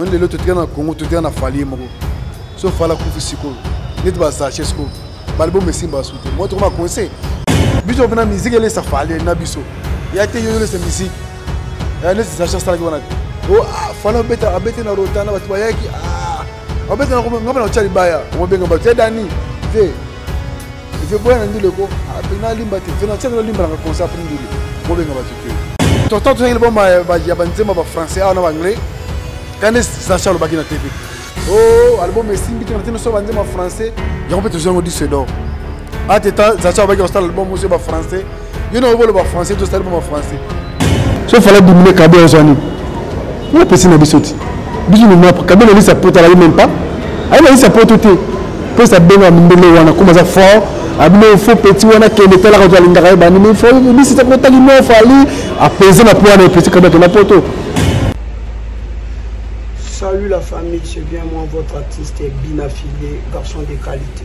Moni lelo totika na Congo totika na falie moko so fala kufi sikoyo neti bazache sikoyo baliboma esimba basu te moi tokoma conseil biso mpena miziki elesa falie na biso ya te yo olesa miziki eh, neti zache asalaki wana te oh, ah, fala abeta abete na rota na bato bayaki ah, abete na ngai bana otya libaya omobenga bato ya dani te Ve boya na ndule ko apena ah, limba te. Ve na tselo limba na konsa apena ndule. Ko benga batu te. Tonton tozali bomba ya banzemba ba français awa na ba anglais. Kande Sacha alobaki na TV. Oh, album esimbi te na tino so banzemba français. Yango mpe tozwi yango disque d'or. Ateta Sacha alobaki kosala album oso ya ba français. yo na oboloba français to sali ba français so fala dimine kabe ya zani yo pesi na biso ti biso ni map kabe na lisa pota la même pas ayi na lisa poto te pesa benga mbele wana kuma za fort abino ah, fo petit wana kende tala ka twali ndaka ba ni me fo bisi ta ko tali no fali apaiser ah, na po wana pesi kabe na poto Salut la famille, c'est bien moi votre artiste et bien affilié, garçon de qualité.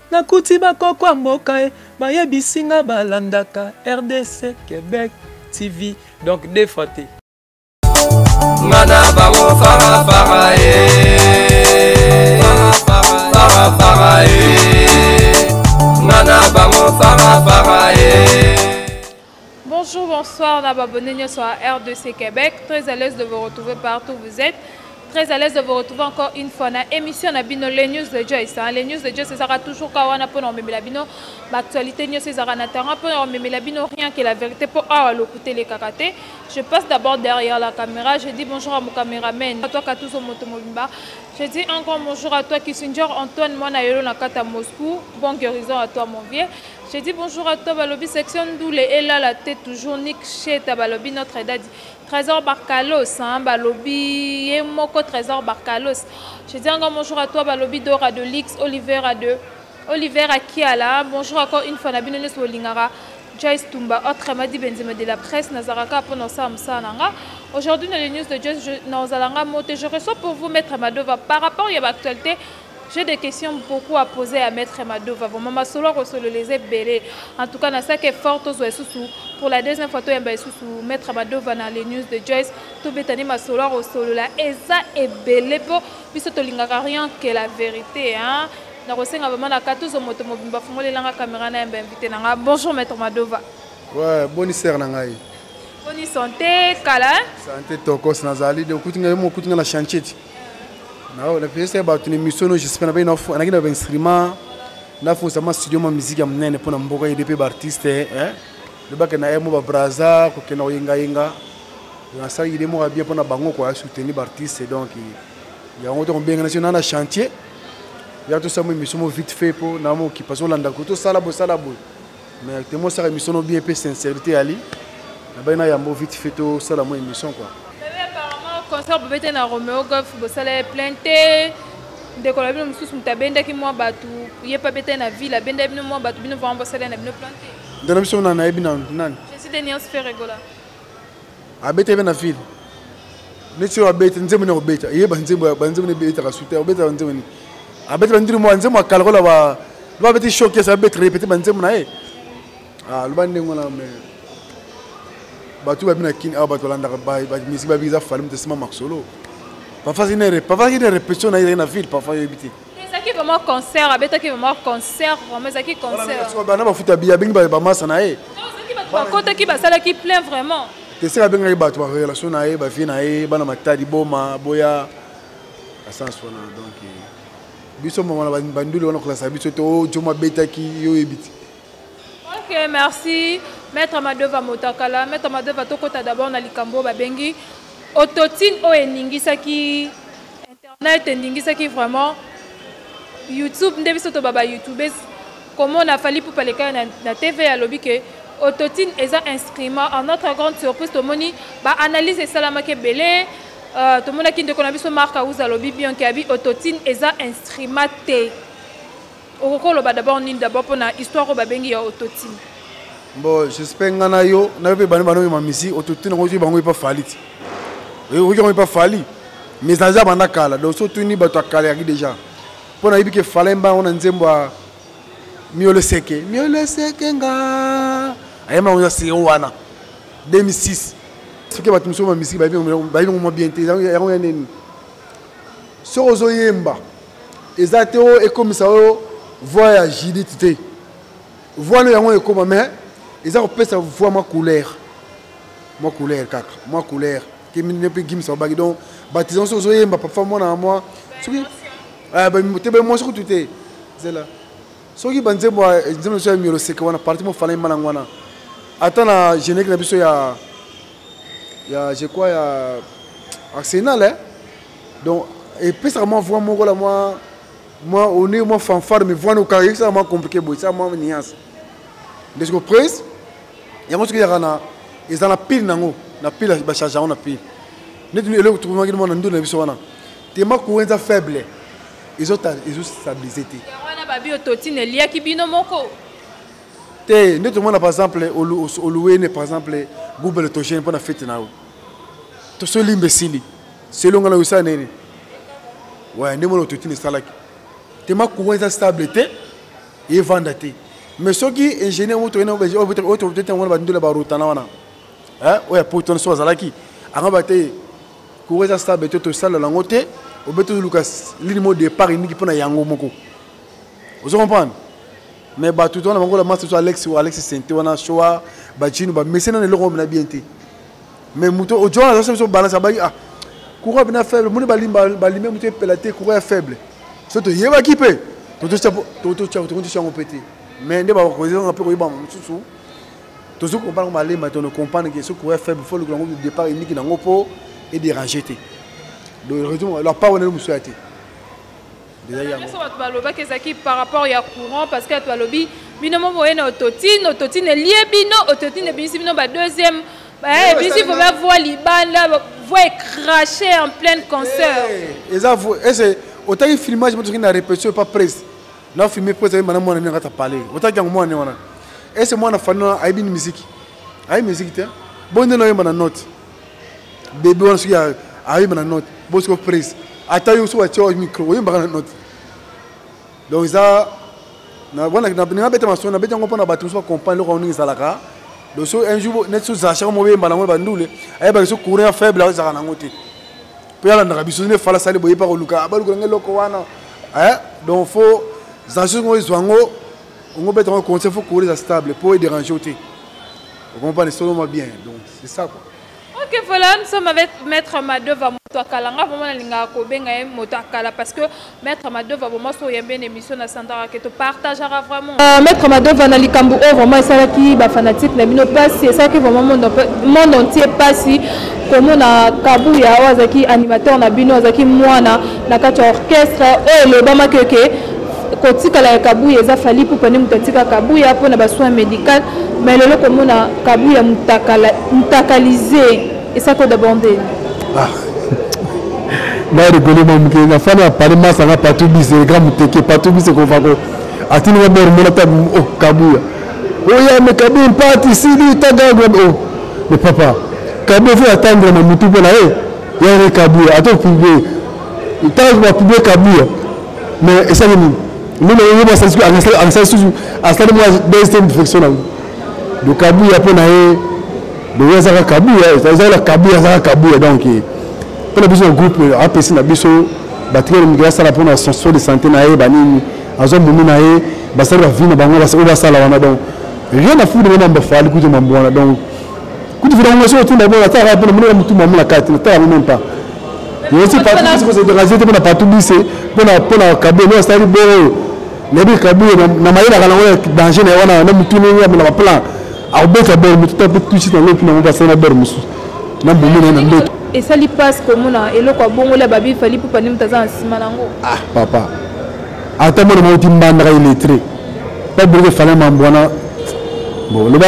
Nakuti ba koko ya mboka eh, bayebisi nga balandaka rdc Quebec TV donc deux fois te. Nga na bango fara fara eh, fara fara eh, nga na bango fara fara eh. Bonjour, bonsoir, na abonné nyoso à RDC Québec. Très à l'aise de vous retrouver partout où vous êtes. Très à l'aise de vous retrouver encore une fois na émission na bino les news de Joyce. Hein. Les news de Joyce ezaka toujours ka wana pona omemela bino ba actualité nyoso ezaka na terrain pona omemela bino rien que la vérité po awa lokuta le kakate. Je passe d'abord derrière la caméra, je dis bonjour à mon caméraman, à toi Katuzo Moto Mobimba. Je dis encore bonjour à toi Kissinger Antoine Mwana Yolo na kata Moscou. Bon guérison à toi mon vieux. Je dis bonjour à toi balobi section ndule elala te toujours nik sheta balobi notre dadi trésor barcalos hein, balobi ye moko trésor barcalos je dis encore bonjour à toi balobi dora de lix olivera de oliver akiala bonjour encore une fois na bino nyonso bolingaka joyce tumba autre madi benzema de la presse nazalaka kaka mpona osala mosala na nga aujourd'hui na les news de joyce nazala nga mo te je reçois pour vous maître madova par rapport ya baactualité J'ai des questions beaucoup à poser à Maître Madova. Vraiment, ma solo ko solo les ebele. En tout cas, na ça que fort aux sous pour la deuxième fois to yamba sous Maître Madova na les news de Joyce. To betani ma solo ko solo la eza ebele po biso to lingaka rien que la vérité hein. Na ko senga vraiment na katuzo moto mobimba fungole langa caméra na yamba invité na nga. Bonjour Maître Madova. Ouais, bonne sœur na ngai. Bonne santé, kala. Santé tokos nazali de kutinga mo kutinga na chantier. na na pesa bato na emission no j'espère na bino anaki na instrument na fosa ma studio ma musique ya munene pona mboka yede pe ba artiste hein le baka na emo ba braza ko kena yenga yenga na sa yede mo bien pona bango ko soutenir ba artiste donc ya ngo to mbenga na sina na chantier ya to sa mo emission mo vite fait po na mo ki paso landa ko to sala bo sala bo mais temo osaka émission no bien mpe sincérité yali nabai na yambo vite fait tosala mwa émission quoi concert bobete na romeo golf bosala ye plein te ndeko na bino mosusu moto abendaki mwa bato ye mpe abetaki na ville abenda bino mwa bato bino vraimen bosala na bino plein te nde na biso na nayebi nanu nani je suis deniance ferregola abetaki mpe na ville neti oyo abeti nzembo nini akobeta ye banzembo banzembo nini ebetaka sute akobetaka banzembo nini abeti bandiri mwa nzembo akala kola ba loba abeti shokes abeti repete banzembo na ye ah, loba ndenge wana me bato babi na kini awa ah, bato balandaka bamisi babi eza fali moto esima masolo pafaki ne repetition na ye ezali na ville pafa yebi te ezalaki vraiment concert abetaki vraiment concert vraiment ezalaki concertbana bafuta biye abengi baye bamasa na ye bakotaki basalaki plein vraiment teseka abengaki bato barelation na ye bavie na ye bana matadi boma boya asens wana donc eh, biso mama na banduli wana kolasa biso te o oh, jomo abetaki yo oyebi te ok merci maître madova motakala maître madova tokota d'abord na likambo babengi autotine oyo eningisaki Internet endingisaki vraiment YouTube nde biso toba ba YouTubes komona Fally Ipupa leka na, na TV alobi ke autotune eza instrument en notre grande surprise tomoni ba analyse esalamaki ebele uh, tomonaki ndeko na biso Marc Auza alobi bien ke abi autotune eza instrument te okoki koloba d'abord nini d'abord mpo na histoire oyo babengi ya autotine bon jespect ngai na yo na yo mpe bani bana oyema misi autotine yango ozwi bango epa fali ti oyoki yango epa fali mais aza banda kala donc so tuni bato ya kala yaki déjà mpo nayebi ke fala mba yango na nzembo ya miole seke miole seke nga ayema yango eza seo wana 2006 soki bato mosusu bamisiki bayebi yango mwa bien te yango ya nini soki ozoyemba eza te oyo ekomisa oyo voix ya judith te voix no yango ekoma mais eza kopesa voix mwa couleur mwa couleur kaka mwa couleur kemine mpe gimisa obaki donc batisan so ozoyemba papa mwana ya mwa soki ah, te bemwasi kutu te zela soki banzembo nzembo na biso ya miolo seke wana parti mofana yemba nango wana ata na générique na biso ya ya je crois ya arsenal eh? donc epesaka mwa voix moko la mwa mwa one mwa fanfare mais voix nokaka ekisaka mwa compliqué boye esaka mwa nuance nde siko prise yango soki eyaka na eza na pile nango na pile bacharge yango na pile neti eloko tokomaki mwa na ndunda na biso wana tema courant eza faible ezostabilise te wana babi ototine eliaki bino moko te nde tomona par exemple oluwene par exemple google togene mpo na fete na yo tosoli mbesili selon nga na yo esala nini waya nde mona ototini esalaki tema courant eza stable te evanda te mais soki ingénieur moto oyinaotete yango na bandola barotana wana oyo ya poto wana so azalaki anga ba te courant eza stable te tosala yango te obe toluka lini mo départ eniki mpo na yango moko ozo comprendre mais bato to wana bangola masa so alex alex sente wana soa bajino bamesena na eloko oyo na bien te mais moto ojo wana azosala biso balance abaki ah courant mpena faible moni balime moto epela te courant ya faible so toyebaki mpe tototya yango mpe te mais nde bakozanga mpe koyeba mosusu tozo comprendre malema tono comprendre ke soki courant faible fo lokola yango départ eniki nango mpo edérange te donc raison la part wana mosusu ya te nyonso bato balobaki ezalaki par rapport ya courant parce que bato balobi bino mo boye na ototine ototine elie bino ototine ebimisi bino ba deuxième eh, ebimisi po bavoi libanda voi ecrache en pleine concert eh, eza ese otaki filmage motoki na répétition epa presse na filme presse ayi mana mwana nini akata pale otaki yango mwana ne wana ese mwana fani wana ayebi ni miziki ayebi miziki te bonde na oyemba na note bebe wana soki ayemba na note bosiko prise ata yo soki atia micro oyembaka na note donc eza nabeta masolo nabeti yango mpona bato mosusu bacomprendre eloko yango ndenge ezalaka donc so un jour neti sozalashaka moyemba nango bandule ayebaka so courant ya faible azalaka nango te mpe alandaka biso nde fala sali boye mpe akoluka ah, balukela nge eloko wana eh, donc fo zaso ngo ezwa yango ongo beta yango conseil fo courant eza stable mpo edérange yo te okompane soloma bien donc c'est ça quoi ok voilà nous sommes avec maître madova moto ya kala nga vraiment nalingaka kobenga ye moto ya kala parce que maître madova vraiment so oyembe na émission na santaka ke topartagaka vraiment uh, maître madova na likambo oyo vraiment esalaki bafanatique na bino mpasi esalaki vraiment monde entier mpasi komona kabuya oyo azalaki animateur na bino azalaki mwana na kati ya orchestre oyo elobamaki oke okay. kotikala ya kabuya eza fali ipupa nde moto atika kabuya mpo na basoin médical mais lelo komona kabuya mutakalise esako dabande ah. na rigole ma moke na fani ya pale masanga patou bise ega moteke patou bise kofa ko atini nga bor mona ta o oh, kabuya oya oh, me kabu mpati sili tagagwa o oh. me papa kabu fo atandre na mutu mpo na ye yare kabuya ato publie ntango bapublie kabuya mais esali nini nini yo basali soki asali susu asali mwa deuxième direction nango do kabuya mpo na ye boye azaka kabuya ezala kabuya azaka kabuya donc mpo na biso na groupe apesi na biso batikeli mikili asala mpo na soin de santé na ye banini azwa momi na ye basali bavi na bango oyo basala wana donc rien na fude wana mbafali kutu mambo wana donc kutu vina ngasi otunda bona ta ka bona mona mutu mamuna kati na ta même pas yesi partout bisi ko se déranger te bona partout bisi bona bona kabwe no sali boro na bi kabwe na mayela kana ngona danger na wana na mutu ni ngam na plan akobeta bor mutu ta tout suite na lopi na ngomba sana bor musu na bomo na ndoto esali passe komona eloko ya bongo la babi fali pupa ni mutaza na sima nango ah papa ata mona mauti mbandaka illettré baburuke fale mambwana bon loba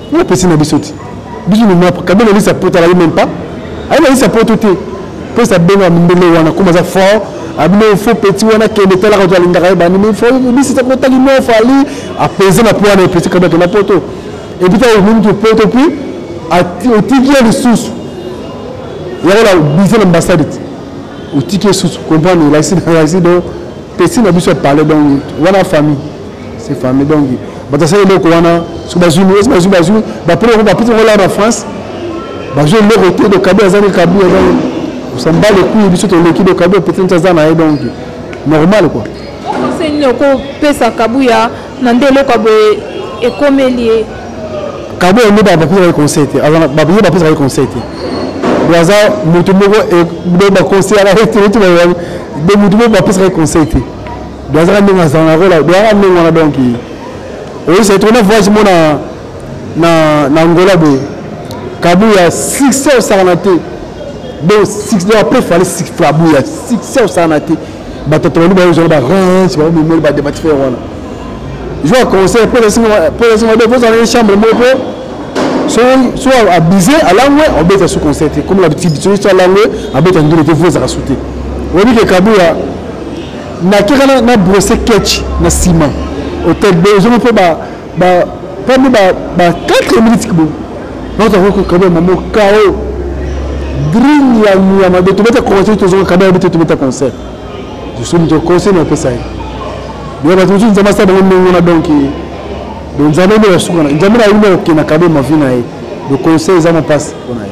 Yo pesi na biso ti. Biso ni map kabela lisa pota la même pas. Ayo lisa poto te. Pesa benga mbele wana kuma za fort. Abino ah, fo petit wana kende tala ka twali ndaka ba ni fo bisi ta kota lino fali apaiser na poana pesi kabela na poto. Et puis ta mimi to poto puis ati otiki ya lisusu. Yako la biso na ambassade. Otiki lisusu comprendre la sida la sida pesi na biso parler donc wana famille c'est famille donc bato asali eloko wana soki bazwi esi bazwi bazwi bapre yango bapesi yango laa na france bazwi eloko te do kabi azali kabi azali osamba lekui biso toleki do kabi opeti nti aza na ye donc normal quoi conseil nini okopesa kabuya na nde eloko ya boye ekomeli ye kabuya nde bapesaka ye conseil te ye bapesaka ye conseil te do aza motu moko baconseillaka ye te de motu moko bapesaka ye conseil te Doazaka ndenge azanga kola doaka ndenge wana donc oyo c'est trop na voyage mo na na na Angola boye kabuya succès osakana te donc succès après fallait succès kabuya succès osakana te bato tobandi bayozala barange bamemeli badebati fer wana joa conseil mpo esinga de kozala ye chambre moko mpo so abuse alangwe obeta sous conseil te comme labitidi soki so alangwe abeta ndule te vo ezaka su te oyebi ke kabuya nakeka na, na brosse ketch na nsima hotel be ozongi mpo ba, ba, pambe ba, ba 4 minutes kibo naotakokokabia mamo kao green ya nyama de tobeta concert tozonga kabia bete tobeta concert jusoni to conseil napesa ye boya bato mosusu nzambe asala bango ndenge wana donk donc nzambe nde basuka na nzambe na yimbe kokenda kabe mavi na ye le conseil eza mopasi mpona ye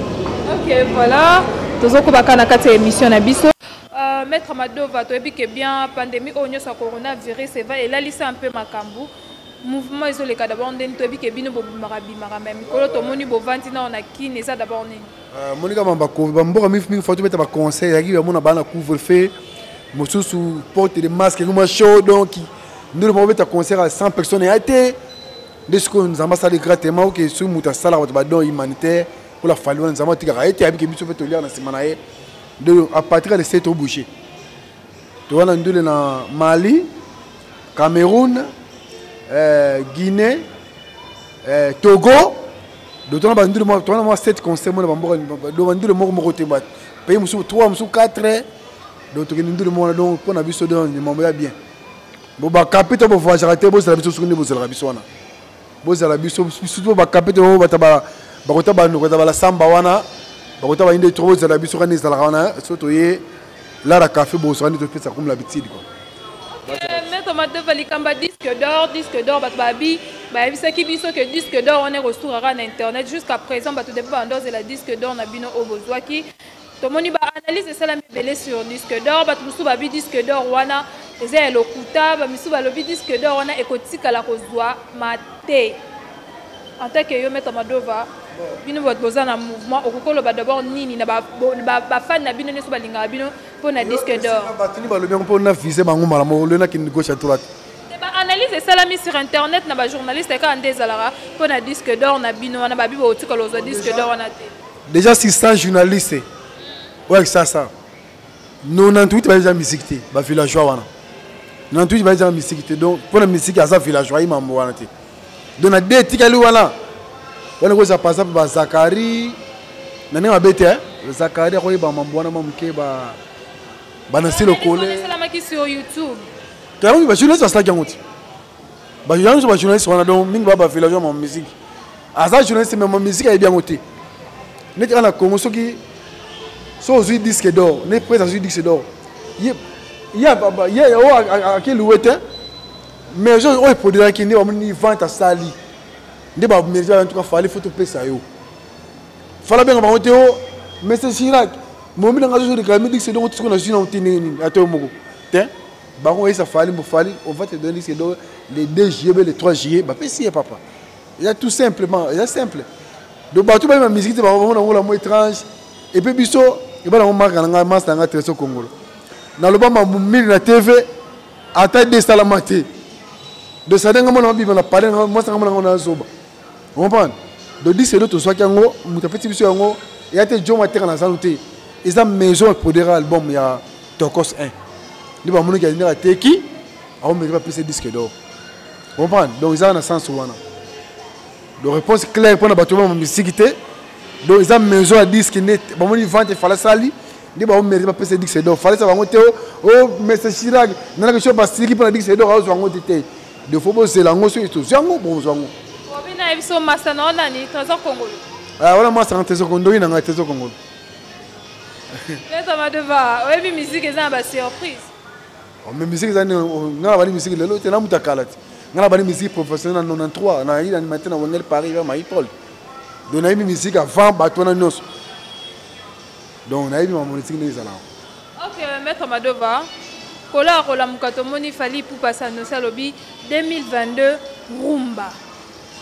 ok voilà tozokobaka na kati ya émission na biso Uh, Maître Madova, toyebi ke bien pandemie oyo nyonso ya coronavirus eva elalisa mpe makambo mouvement ezoleka d'abord ndeni toyebi ke bino bobimaka bimaka me mikolo tomoni bovandi nao na kine eza d'abord nini euh, monika mamba bamboka mingi mingi fo tobeta baconseil yaki bamona bana couvre feu mosusu porte de masque ekoma chaud donc ndelo moko beta concert ya 100 personnes ya te nde sikoyo nzambe asali gratement oke soki moto asalaka bato badon humanitaire mpo la fali wana nzambe atikaka ye te ayebike biso mpe toliaka na nsima na ye ndule a partir ya le 7 obouge toza na ndule na mali cameroun euh, guinée euh, togo donc tona bandule tona mwa 7 concert mona bamboka do bandule moko moko te bato pays mosusu 3 mosusu 4 donc tokende ndule moko wana donc mpo na biso do mambo ya bien bo bakape to bovoyagaka te bozala biso soki nde bozalaka biso wana bozala biso surtout ba kapete oyo bata ba bakota ba noko ta bala samba wana bakota ba inde trop bozala biso kana ezala wana so to ye lara café bo sokani to pesa comme l'habitude quoi mais comment te vali kamba disque d'or disque d'or bat babi bayebisaki biso ke disque d'or wana ekosuraka na internet jusqu'à présent bato depo banda ozela disque d'or na bino oyo bozwaki tomoni ba analyse esalami ebele sur disque d'or bato mosusu babi disque d'or wana eza ya lokuta bamisusu balobi disque d'or wana ekotikala kozwa mate en tant que yo maître madova bino bato boza na mouvement okoki koloba d'abord nini na bafani na bino nyonso balingaka bino mpo na disque d'or bato nini balobi yango mpo na vise bango malamu olio nakende gauche à droite analyse esalami sur internet na bajournaliste kaka nde ezalaka mpo na disque d'or na bino wana babi botikala ozwa disque d'or wana te Deja 600 journalistes oyo kisasa 98 bayebi eza misiki te bavillageois wana 98 bayebi eza misiki te donc mpo na misiki aza villageois ayi mambo wana te donc na de etikali wana wana ekozala par exemple bazakari na ndenge mabe te zakari akoyeba mambo wana mwa moke banasi lokole toyamaki bajournaliste basalaki yango te ba yanzu ba journaliste wana donc mingi ba ba villageois ma musique aza journaliste mais ma musique ayebi yango te neti ana Congo soki so ozui disque d'or ne presse azui disque d'or ye ye ye o ake louer te mais je oyo produiraki nde bamoni vente asali nde ba mérite ba en tout cas fallait faut topesa yo fala benga bango te o monsieur Chirac momi na nga zo réclamer disque d'or tisiko na zui na te ndenge nini ata yo moko te bango oyesa fali mbo fali on va te donner disque d'or le 2 juillet be le 3 juillet bapesi ye papa eza tout simplement eza simple donc bato bayeba miziki te bamona yango lamo étrange epe biso eba nango marka na ngai masta na ngai treso kongolo naloba mambo mingi na tv ata desalama te donc sade ngai mona mabima na pale masta ngai mona ngai nazoba comprendre donc dise do tozwaki yango moto apeti biso yango eya te jo mateka na zanu te eza maison eprodera album ya tokos 1 nde bamonaki ya ndenge ateki aomeki bapesa disque d'or comprendre donc ezaka na sens wana donc réponse claire mpo na bato bama misiki te donc eza maison ya disque nde bamoni vente efala sali nde baomeki bapesa disque d'or falesa bango te o oh, oh, mese chirac nanakesio basiki mpo na disque d'or aozwa yango te te de faut bozela yango soki tozwi yango bonzwa yango obina biso masta na wana ni trésor kongolo ah, wana masta na trésor kondoki na ngai trésor kongolo leta madova oyebi miziki eza na basurprise oh, mais miziki eza ngai oh, nabali miziki lelo te namuta kala te ngai nabali miziki professionnel na 93 nayi na animateur na wengel paris vers maipol donc nayebi miziki avant bato wana nyonso donc nayebi makambo nitiki nde ezalaka ok maître madova kola akolamuka tomoni fali pupa sanosi alobi 2022 rumba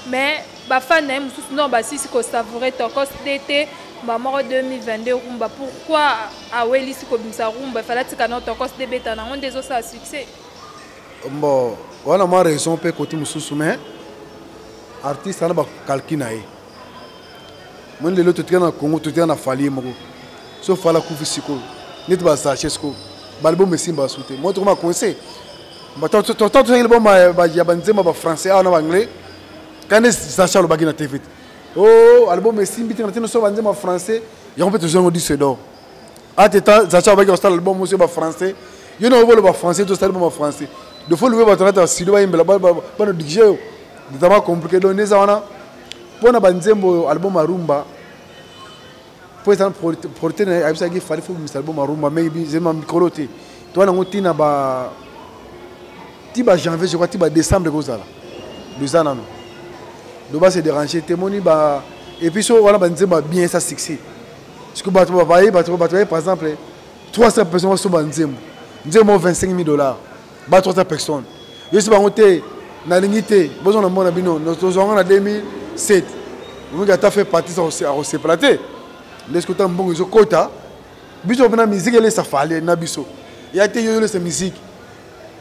mais bafani na ye mosusu nor basisi kosavoure tokos dt bamoko 2022 rumba pourquoi awelisi kobimisa rumba efala tika nor tokos debeta nango nde ezosala succès bon wana mwa raison mpe koti mosusu mais artiste ana bacalcul na ye moni lelo totika na congo totika na falie moko so fala kufi sikoyo neti basache sikoyo baliboma esimbaka su te moi tokoma conseil totangi liboma ya banzemba bafrançais awa na baanglais kande sache alobaki na tv te o oh, album esimbi te na ntina so banzemba français yango mpe tozango disque d'or ate ta sache alobaki kosala album oso ba français yo na oboloba français tosali boma français de fo lobe bato nata sido bayembela bana digio yo nzambe akomplike donc neza wana mpo na banzembo oyo album ya rumba mpo eza prote na ayebisaki fali fo bimisa album ya rumba mai zema mikolo te toa nango ti na ba ti ba janvier je crois ti ba décembre ekozala eza nano doba se déranger te moni ba epuis so wana banzembo ya bien esa succès soki bato baye bato baye par exemple 300 personnes basomba nzembo nzembo 25 000 dollars ba 300 personnes yosi bango te nalingi te bozo na mona bino tozwanga na 2007 omoki ata fait partie akosepela te ndesi kota mbongo ezokota biso mpena miziki elesa fale na biso ya te yo yolesa miziki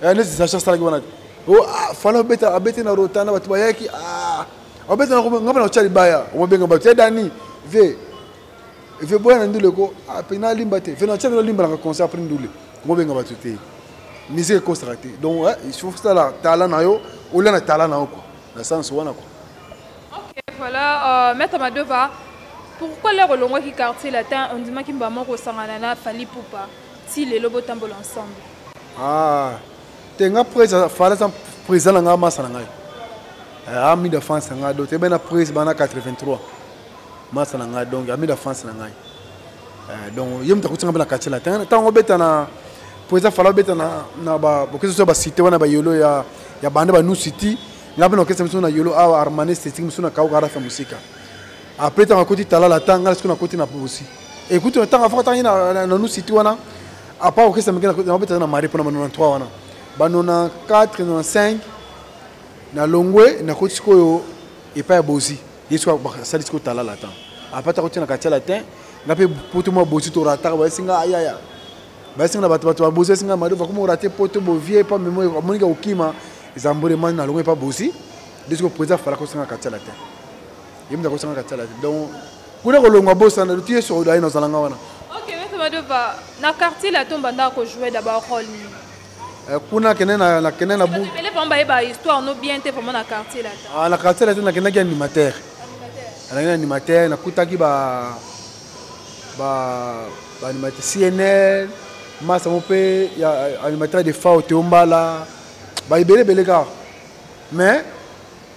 neti sacha asalaki wana te oh, ah, fale abeta abeti na rota na bato bayaki ah, abeta ngai mpe na kotya libaya omobenga bato ya dani vie efe boya na ndule ko apena ah, alimba te fena tiamelo alimbalaka concert apres ndule komobenga bato te musique ekosaka te donc il faut sala tala na yo olia na tala na yo kua na sens wana kua ok voilà euh, maître madova pourquoi lere olongwaki quartier latin ondimaki mbama okosangana na fali pupa ti lelo botambola ensemble ah te nga pres fala eza président na ngai masa na ngai eh, ami de france na ngai do te bena pres bana 83 masa na ngai donc amida france na ngai eh, donc ye moto akotinga mpe na quartier latin ntango obeta na mpo eza fala obeta na bokesa biso ya basite wana bayolo ya ya banda ba nusiti nga mpe na okesa biso na yolo awa armane esthétique mosusu na kauka arafa mosika après ntango akoti talala ta nga sikoyo nakoti na bosi ekutu ntango afaka ntango ye na nusiti wana apa okesa mike nabetaka na mari mpona ba 93 wana ba 94 95 na longwe nakoti sikoyo epai ya bosi ye soki asali sikoyo tala latin apres ata kotina katia latin nga mpe poto mwa bosi torataka bayesi nga ayaya bayesi nga na bato bato babosi yesi nga madova koma orate poto bovie epa memo amoniki akokima eza mbole mani na longo epa bosi nde sikoyo président fala kosanga katia latin ye moto akosanga katia latin donc kuna kolongwa bosana ti yesu aye nazalanga wana ok maitre madova na quartier latin obandaka kojouer d'abord role nini Eh, kuna kende na na kende na bu pele pamba ye ba histoire no bien te vraiment na quartier là ah na quartier là na kende ki animateur na kende animateur na kutaki ba ba ba animateur CNL masa mo pe ya animateur de Fao Teombala ba ibele bele ka mais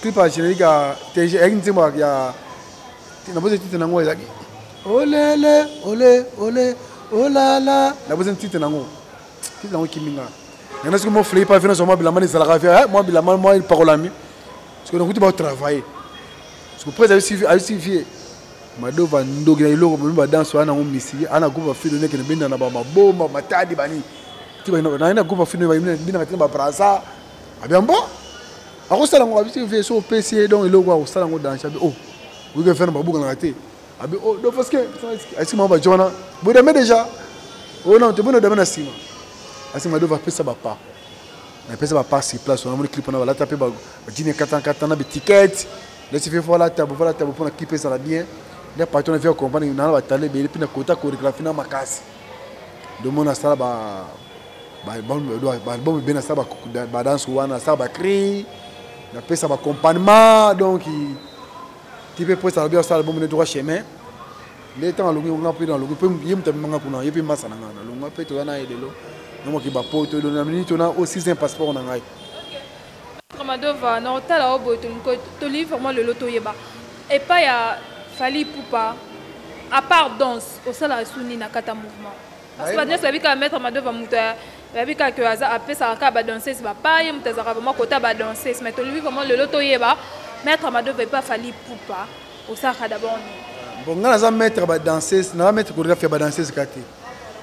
clip ya générique ya tg eyaki nzembo ya nabozi titre na yango ezalaki olele ole ole olala nabozi titre na yango titre na yango ekimi nga yango soki mo flei pa vino zwa mwa bilamba ezalaka vi eh, mwa bilamba mwa epakolami soki nakuti baotravaille soki prese ayusi vie madova ndoki na eloko bomi badanse wana yango misili ana groupe bafilo neke na benda na bamabomba matadi bani ti naye na groupe bafilo bina kati na babrasa Abi ambo akosala ngo abi te vie so opesi ye donc eloko akosala ngo danse abi oh oyoki affaire na babukanaka te abi oh donc parce que asiki mama bajo wana bodame déjà oyo oh, nano te boni odame na nsima asiki madova apesa bapa napesa bapa sur place wana moni clip wana balata mpe bajini katankata na betiquete lesi fe fo alata bo fo alata bo mpo na clip ezala bien nde patron na vie akompani nana batala ebele mpe na kota chorégraphie na makasi domona asala ba baalbum ebe nasala badanse wana nasala bacri napesa baccompagnement donc ti mpe mposa alobi asala album ne droit chemin nde ntango alongi nga mpe nalongi mpe ye moto amemanga kuna ye mpe mbasa na ngai nalonga mpe toya na ye lelo namoki bapoto elo na miniti ona o sixième passeport na ngai madova na otala o boye tolii vraiment lelo toyeba epai ya fali pupa apart danse osalaka su nini na kata mouvement parce que bato nyonso bayebi kaka maître madova moto bayebi kaka ke aza apesaka kaka badanseuse bapaye moto azalaka vraimen kota badanseuse mais tolingi vraimen lelo toyeba maître madova epa fali pupa osalaka d'abord nini bon ngai naza maître badanseuse naza maître chorégraphe ya badanseuse kaka te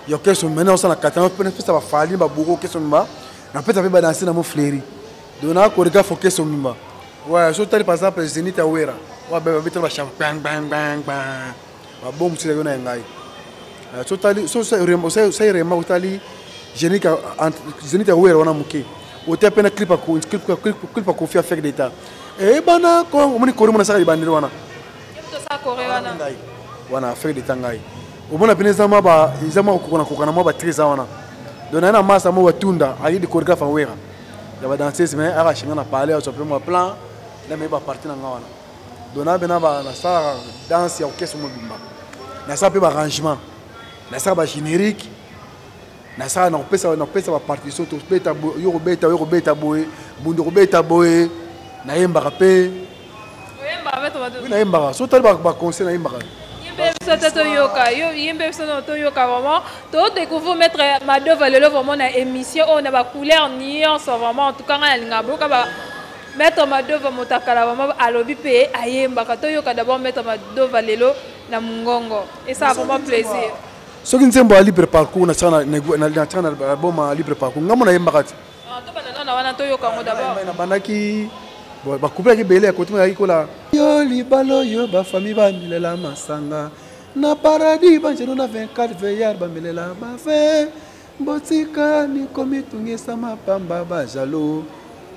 yo keso mena osala katana mpe napesa bafali baboko keso mba napesa mpe badanse na mo fleri donc naa chorégraphe o keso mimba ouais so tali par exemple zenith awera wa bebe abetela ba champion bang bang bang babongisela yo na ngai sotali sosai rema otali zenit ya wera wana moke otia mpe na clip ya kofi afek deta eyebana eh, kongo omoni kori mona asaka libandeli wana wana afek deta ngai omona mpena eza mwa kokokana kokana mwa batri eza wana donc naye na masa mo batunda ayi de choregraphe ya wera ya badanseuse mai aka shinga na palais azwa mpe mwa plan na mei baparti na ngai wana dona bena nasalaka danse ya orchestre mobimba nasala mpe barrangement nasala bagénérique nasala nakopesa nakopesa bapartition tobeta yo kobeta yo kobeta boye bundo kobeta boye nayembaka mpe nayembaka so tali baconseil nayembaka yembe biso te toyoka yembe biso no toyoka vraiment todécouvrir maître madova lelo vraiment na émission oyo na bacouleur nyonso vraiment en tout cas ngai nalinga boyoka Maître Madova Motakala vraiment alobi pe ayembaka toyoka d'abord Maître Madova lelo na mungongo et ça vraiment plaisir. Soki nzembo ya libre parcours na tsana na na tsana album ya libre parcours ngamo nayembaka ti. Ah to bana na wana toyoka ngo d'abord. Na bandaki ba couple ya kibele ya kotima yaki kola. Yo libalo yo ba famille ba milela masanga na paradis banjelu na 24 veillard ba milela ba fe. Botika ni komitungisa mapamba ba jaloux.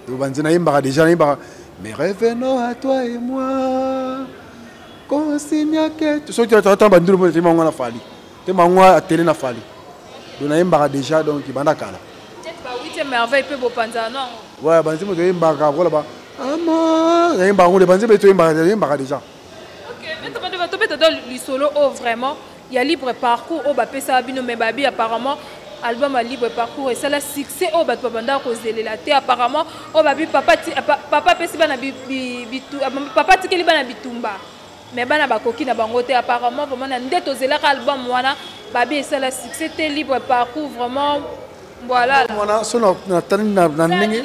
Yo banzi nayembaka deja nayembaka mais revenons à toi et moi. Consigna que tu soki tata bandulu mpo te mango na fali. Te mango atele na fali. Donc nayembaka deja donc banda kala. Peut-être ba 8e merveille pe bopanza non. Ouais banzi moto yembaka kola ba ama yembaka ngole banzi beto yembaka yembaka deja. OK, mais tobanda tobeta dans lisolo oh vraiment ya libre parcours oyo bapesaka bino mais babi apparemment album ya libre parcours esala succès oyo bato babandaka kozelela te apparemment oyo babi papa apesi bana papa atikeli bana bitumba mais bana bakoki na bango te apparemment vraiment na nde tozelaka album wana babi esala succès te libre parcours vraiment voilà wana so na tani na ndenge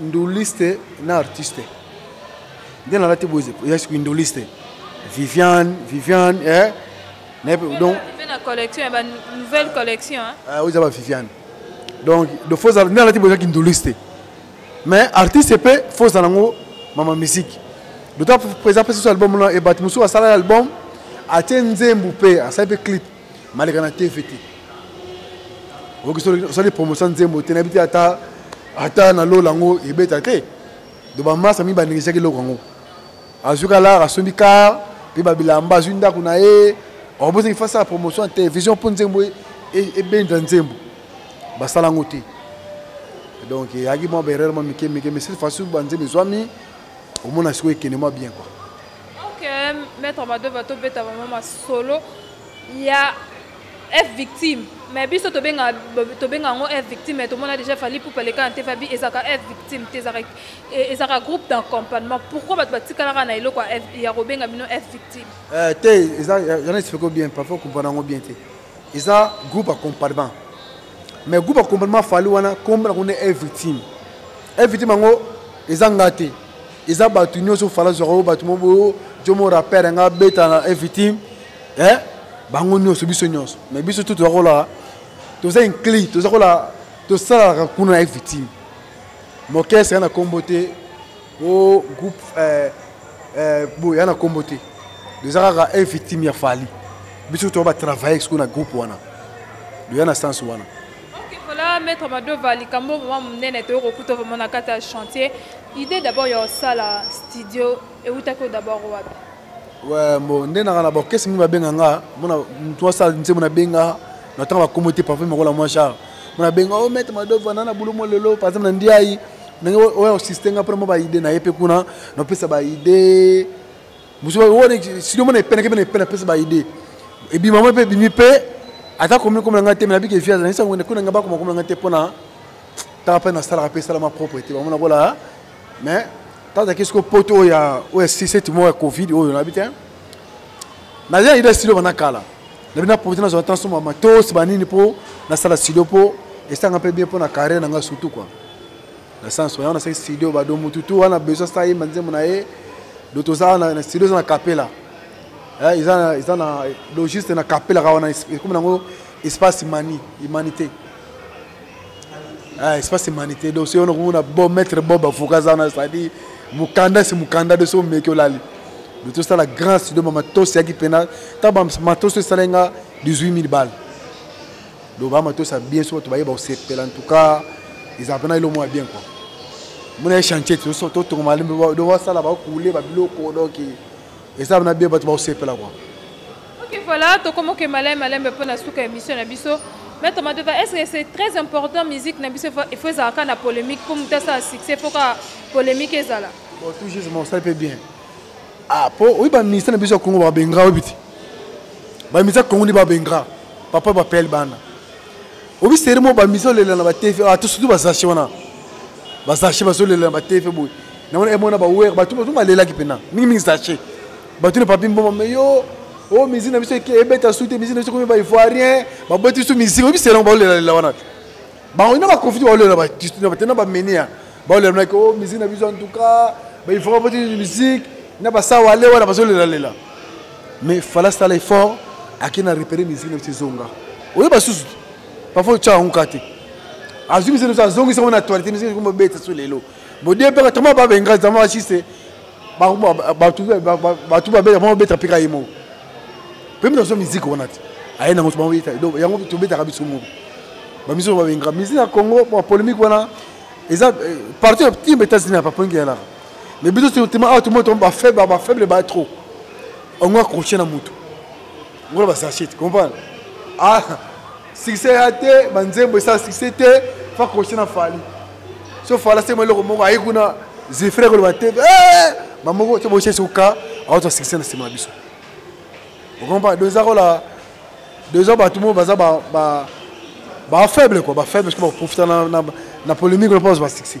nduliste na artiste nde nalati boye ya sikoyo nduliste viviane viviane eh? donc collection ya banouvelle collection ah, oza ba viviane donc de fo ozala nde alati boye ezaki nduliste mais artiste mpe fo ozala yango mama musique dota présent mpe susu album wana ebati mosusu asala album atie nzembu mpe asali mpe clip maleka na tv te osali promotion nzembo te nayebi te ata ata na lola yango ebeta te do bamasa mi banegisaki eloko yango azwi kalar asombi kar mpe babilamba azwi ndako na ye obosaki fasi ya promotion ya télévision mpo nzembo e, e, ebenda nzembo basala yango te donc eyaki mwa baerreur mwa mike mike mais cette fois banzembo ezwami omona sikoyo ekende mwa bien quoi Ok, maître Madova to beta vraiment masolo ya F victime. Mais biso to benga to benga ngo F victime mais to mona déjà fali pour parler quand Tefa bi ezaka F victime te ezaka ezaka groupe d'accompagnement. Pourquoi bat batikala kana eloko F ya ko benga bino F victime? Euh te eza yana explique bien parfois ko bana ngo bien te. Eza groupe accompagnement. Mais groupe accompagnement fali wana comme na ko ne F victime. F victime ngo eza ngate. eza bato nyonso fala zwaka oyo bato moko boyo jomo rapper yanga abeta na evitime eh? bango nyonso biso nyonso mais biso tu toza kolaka toza incli toza kolaka tosalaka kuna na evitime mokese ya na nkombo te o groupe eh, eh, boye ya na nkombo te toza kaka evitime ya fali biso toza batravaille sikoyo na groupe wana doya na sens wana Ok, voilà, Maître Madova, likambo vraiment monene toyo kokuta vraiment na kati ya chantier. Idée d'abord ya osala studio ewutaki d'abord wapi? Ouais, bon, nde nanga na ba orchestre mingi babenga nga, mona mutu asala nzembo na benga, na tanga bakomo te parfois makola mwa char. Mona benga oh Maître Madova na na bulumo lelo par exemple na ndiayi. Ndenge oyo osiste nga mpo na mwa ba idée na ye mpe kuna na opesa ba idée buzoba wana studio mona epenaki mpe na epena pesa ba idée ebima mwa mpe ebimi mpe ata komi komela ngai te me nabiki eviase nayisa ngwende kuna ngai bakoma komela ngai te mpona taka mpe nasalaka mpe esalama propre te bamona kola mais tazalaki soko poto oyo ya oyo ya siseti moko ya covid oyo nayebi te naza na idée studio bana kala nabi na profite nazwa ntanso ma matos banini mpo nasala studio mpo esanga mpe bien mpo na carrière na ngai surtout quoi na sens wana nasaki studio bado mutu tu wana besoin sa yemba nzembo na ye do toza wana na studio eza na kapela eh, eza eza na do juste na kapela ka wana ekomi nango espace mani humanité eh, espace humanité do soyo nakomona bo maître bob avocat aza wana c'est-à-dire mokanda si mokanda do soyo meki olali do tosala grand studio ma matos yaki mpena ntango matos esalai nga 18 000 balle donc baa matosa bien so bato bayeba kosepela en tout cas ezala mpena elo mwa bien quoi mona ye chantier totonga malembe do basala bakule babiloko donc eza na bien bato bakosepela quoi ok voilà tokomoke malembe malembe mpo na suka émission na biso maître madova est ce que c'est très important musique na biso il faut ezalaka na polémique mpo moto asala succès mpo kaka polémique ezala bon tout justement osali mpe bien ah po oyi ba ministère na biso ya Congo ba bengra oyi biti ba ministère Congo ni ba bengra papa ba pel bana obi seri mo ba miso lela na ba tefe ah to surtout ba sache wana ba sache ba so lela na ba tefe boyi na wana emona ba wer ba tout ba lela ki pena mingi mingi sache ba tout ne papi mboma mais yo o oh, mizi na biso ebeta sute mizi na biso komi ba ivoirien baboti biso mizi oyebi selongo baolela lela wana te bango na bakonfiti baolela batistu na batena bamenia baolela naki o misiki na biso antuka baifoma poti misiki na basawale wana bazolelalela mais fala sala effort ake na repere misiki na biso ezonga oyo basusu parfois otya yango ka te azwi misiki na biso azongisa yango na actualité misiki ekomi obeta so lelo bodepeka tama babenga tama basiste bato babeta mpo babeta mpe ka ye moko mpe mino azwa miziki wana te aye nango sobaoyeta donc yango tobetaka biso moko bamiso oyo babengaka miziki ya congo mwa polémique wana eza euh, parti timba états-unis ya papoingi yalaka mais biso tema awa tomoi tomo bafaible bafaible ba trop ongo accroche na motu ngola basachete comprendre ah succès ya te banzembo esala succès te fa kosi na fali so fala sema eloko moko ayi kuna zifre koloba te eh! bamoko te bosi esuka aozwa succès na nsima na biso okompa do eza kola do eza bato moko baza bafaible kua bafaible soki baprofita na polémique lopa bazwa basuccès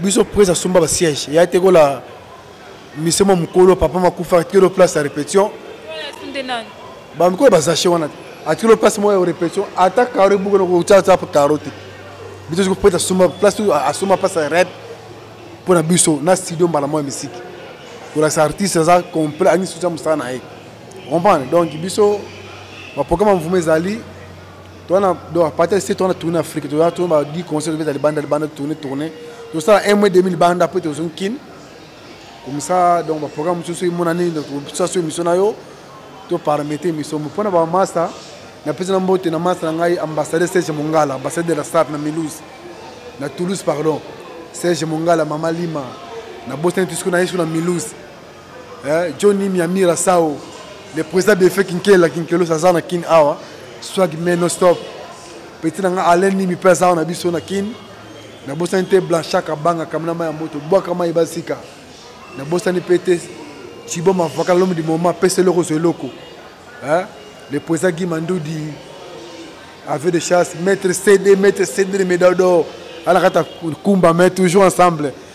biso prince asomba ba siège ya te kola mise mwa mokolo papa makufa atikelo place ya répétition bamikolo bazache wana te atikelo place moko ya répétition ata karo ebukana kotyatya karo te biso soki prince asomba place asomba place ya rep mpo na biso na studio mbala moko ya misiki kolakisa artiste aza complet angi soutya mosala na ye comprendre donc biso baprograme ya mvuma ezali twana donc à partir de ce twana tourne Afrique toya tourne ba di concert beta libanda libanda tourne tourne to sala un mois demi libanda après to zone kin comme ça donc ba programme tout ce mon année donc tout ça sur mission na yo to paramétrer mission pour na ba master na pesa na mbote na master na ngai ambassadeur Serge Mongala ambassadeur de la SAP na Mulhouse na Toulouse pardon Serge Mongala Mama Lima na Boston tout ce qu'on a eu sur la Mulhouse eh, Johnny Miamira Sao le président de Fek Kinkela Kinkelo aza na Kin awa swag mais non stop petit na nga Alain Nimi mpe aza na biso na Kin nabosani te Blanchard Kabanga kamina mai ya moto bwaka mai basika nabosani mpe te Chibo Mavaka l'homme du moment pesa eloko zwa eloko eh, le président Guy Mandoudi avion de chasse maître CD maître CD de médaille d'or alakata kumba mais toujours ensemble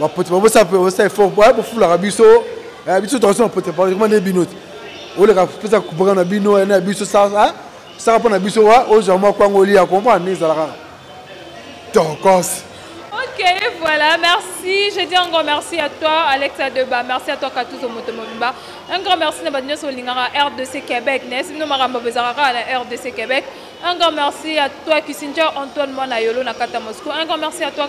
bapote babosala mpe osala effort po aya bofulaka biso eh, biso tokosi bapote pakoma nde bino te oleka pesa kupaka na bino ene ya biso sasa saka mpo na biso wa ozwa mwa kwango olia comprendre nde ezalaka tokosi Ok, voilà, merci. Je dis un grand merci à toi, Alexa Deba. Merci à toi, Katuzo Motomobimba. Un grand merci à Badinyo Solingara, RDC Québec. N'est-ce pas, Maramba Bezarara, la RDC Québec. Un grand merci à toi, Kissinger, Antoine Manayolo, Nakata Moscou. Un grand merci à toi,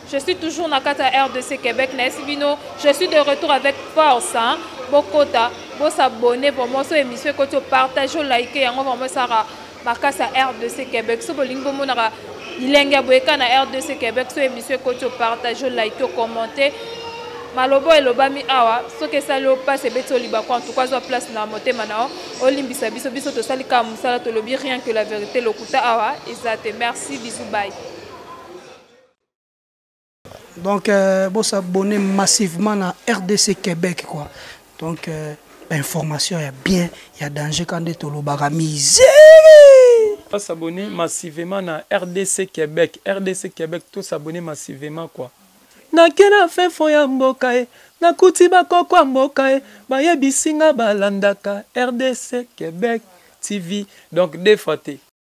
Je suis toujours na kata RDC Québec na Esibino. Je suis de retour avec force. Hein? Bokota, bo s'abonner vraiment sur émission que tu partages, like et on vraiment ça ma kasa RDC Québec. So bolingi bo monaka bilenge boyeka na RDC Québec sur émission que tu partages, like, commenter. maloba elobami awa soki esali yo mpasi ebeti olibako en tout cas zwa place na motema na yo olimbisa biso biso tosali kaka mosala tolobi rien que la vérité lokuta awa eza te merci bisu bai donc euh, bo s'abonner massivement na rdc québec quoi donc euh, information ya bien ya danger ka nde tolobaka misere pas s'abonner massivement na rdc québec rdc québec to s'abonner massivement quoi nakela fefo ya mboka e nakuti bakoko ya mboka e bayebisi nga balandaka rdc québec tv donc defa te